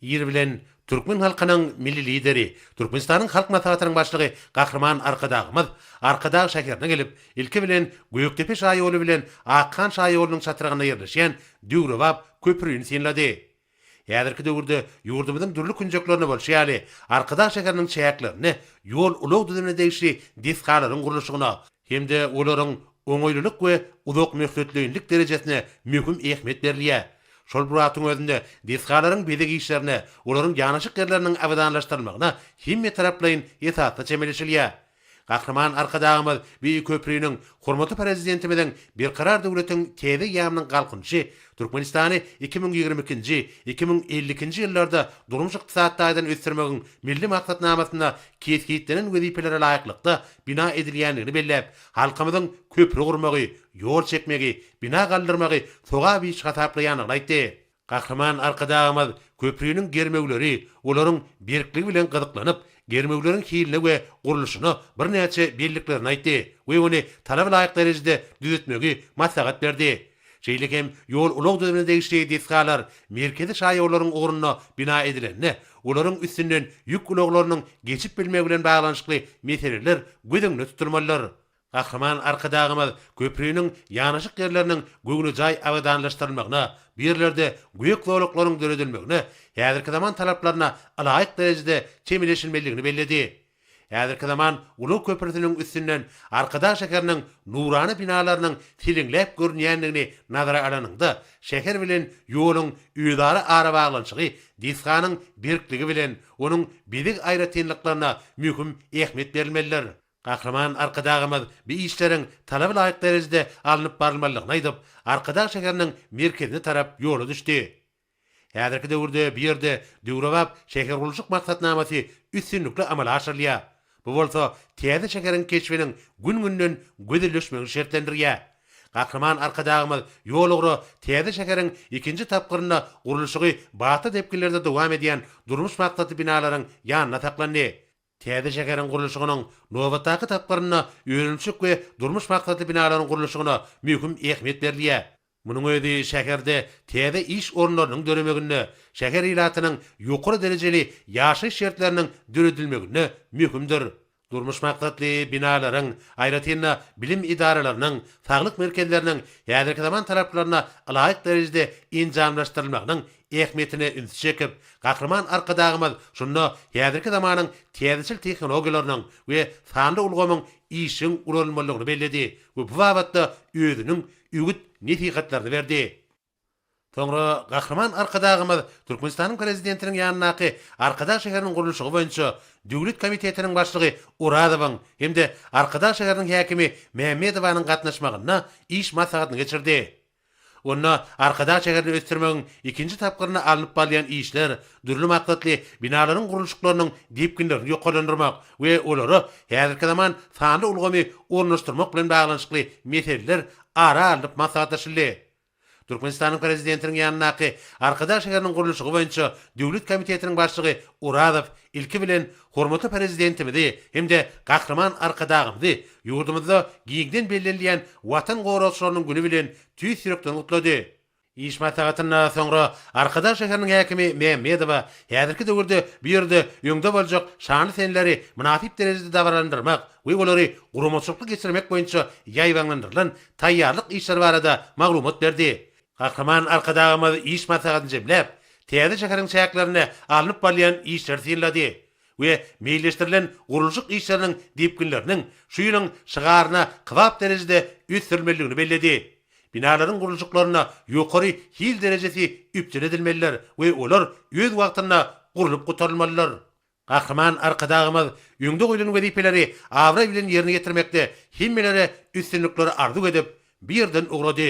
Ýeri bilen, türkmen halkynyň Milli Lideri, Türkmenistanyň Halk Maslahatynyň Başlygy Gahryman Arkadagymyz Arkadag şäherine gelip, ilki bilen, Gökdepe şaýoly bilen Akhan şaýolunyň çatrygynda ýerleşýän döwrebap köprini synlady. Häzirki döwürde ýurdumyzyň dürli künjeklerinde bolşy ýaly, Arkadag şäheriniň çäklerinde ýol-ulag düzümine degişli desgalaryň gurluşygyna, hem-de olaryň oňaýlylyk we uzakmöhletleýinlik derejesine möhüm ähmiýet berilýär. Şol bir wagtyň özünde desgalaryň bezeg işlerine, olaryň ýanaşyk ýerleriniň abadanlaşdyrylmagyna hemmetaraplaýyn esasda çemeleşilýär. Gahryman Arkadagymyz Beýik köpriniň, hormatly Prezidentimiziň Berkarar döwletiň täze eýýamynyň Galkynyşy Türkmenistany iki müň ýigrimi ikinji, iki müň elli ikinji ýyllarda durmuş-ykdysady taýdan ösdürmegiň Milli maksatnamasynda kesgitlenen wezipelere laýyklykda bina edilýändigini belläp, halkymyzyň köpri gurmagy, ýol çekmegi, bina galdyrmagy sogap iş hasaplaýandygyny aýtdy. Gahryman Arkadagymyz köpriniň germewleri, olaryň berkligi bilen gyzyklanyp, germewleriň hiline we gurluşyna birnäçe belliklerini aýtdy we ony talaba laýyk derejede düzetmegi maslahat berdi. Şeýle hem ýol-ulag düzümine degişli desgalar merkezi şaýollaryň ugrunda bina edilende, olaryň üstünden ýük ulaglarynyň geçip bilmegi bilen baglanyşykly meseleler göz öňünde tutulmalydyr. Gahryman Arkadagymyz köpriniň ýanaşyk ýerleriniň göwnejaý abadanlaşdyrylmagyna, bu ýerlerde gök zolaklaryň döredilmegine häzirki zaman talaplaryna ylaýyk derejede çemeleşilmelidigini belledi. Häzirki zaman ulag köprüsiniň üstünden Arkadag şäheriniň nurana binalarynyň siliňläp görünýändigini nazara alanyňda, şäher bilen ýoluň özara arabaglanyşygy desganyň berkligi bilen onuň bezeg aýratynlyklaryna möhüm ähmiýet berilmelidir. Gahryman Arkadagymyz bu işleriň talaba laýyk derejede alnyp barylmalydygyny aýdyp, Arkadag şäheriniň merkezine tarap ýola düşdi. Häzirki döwürde bu ýerde döwrebap şähergurluşyk maksatnamasy üstünlikli amala aşyrylýar. Bu bolsa täze şäheriň keşbiniň gün-günden gözelleşmegini şertlendirýär. Gahryman Arkadagymyz ýol ugra täze şäheriň ikinji tapgyrynda gurluşygy batly depginlerde dowam edýän durmuş maksatly binalaryň ýanynda saklandy. Täze şäheriň gurluşygynyň nobatdaky tapgyrynda önümçilik we durmuş maksatly binalaryň gurluşygyna möhüm ähmiýet berilýär. Munuň özi şäherde täze iş orunlarynyň döremeginde, şäher ilatynyň ýokary derejeli ýaşaýyş şertleriniň döredilmeginde möhümdir. Durmuş maksatly binalaryň, aýratyn-da, bilim edaralarynyň, saglyk merkezleriniň häzirki zaman talaplaryna ylaýyk derejede enjamlaşdyrylmagynyň ähmiýetine ünsi çekip, Gahryman Arkadagymyz şunda häzirki zamanyň täzeçil tehnologiýalarynyň we sanly ulgamyň işjeň ulanylmalydygyny belledi we bu babatda özüniň öwüt nesihatlaryny berdi. Soňra Gahryman Arkadagymyz Türkmenistanyň Prezidentiniň ýanyndaky Arkadag şäheriniň gurluşygy boýunça döwlet komitetiniň başlygy Orazowyň hem-de Arkadag şäheriniň häkimi Mämmedowanyň gatnaşmagynda iş maslahatyny geçirdi. Onda Arkadag şäherini ösdürmegiň ikinji tapgyrynda alnyp balýan işler dürli maksatly binalaryň gurluşyklarynyň depginlerini ýokarlandyrmak we olara häzirki zaman sanly ulgamy ornaşdyrmak bilen baglanyşykly meseleler ara alnyp maslahatlaşyldy. Türkmenistanyň Prezidentiniň ýanyndaky Arkadag şäheriniň gurluşygy boýunça döwlet komitetiniň başlygy Orazow ilki bilen Hormatly Prezidentimizi hem-de Gahryman Arkadagymyzy ýurdumyzda giňden bellenilýän Watan goragçylarynyň güni bilen tüýs ýürekden gutlady. Iş maslahatyndan soňra Arkadag şäheriniň häkimi Mämmedowa häzirki döwürde bu ýerde öňde boljak şanly senleri mynasyp derejede dabaralandyrmak we olary guramaçylykly geçirmek boýunça ýaýbaňlandyrylan taýýarlyk işleri barada maglumat berdi. Gahryman Arkadagymyz iş maslahatyny jemläp, täze şäheriň çäklerinde alnyp barylýan işleri synlady we meýilleşdirilen gurluşyk işleriniň depginleriniň şu ýylyň şygaryna kybap derejede ösdürilmelidigini belledi. Binalaryň gurluşyklarynda ýokary hil derejesi üpjün edilmelidir we olar öz wagtynda gurlup gutarylmalydyr. Gahryman Arkadagymyz öňde goýlan wezipeleri abraý bilen ýerine ýetirmekde hemmelere üstünlikleri arzuw edip, bu ýerden ugrady.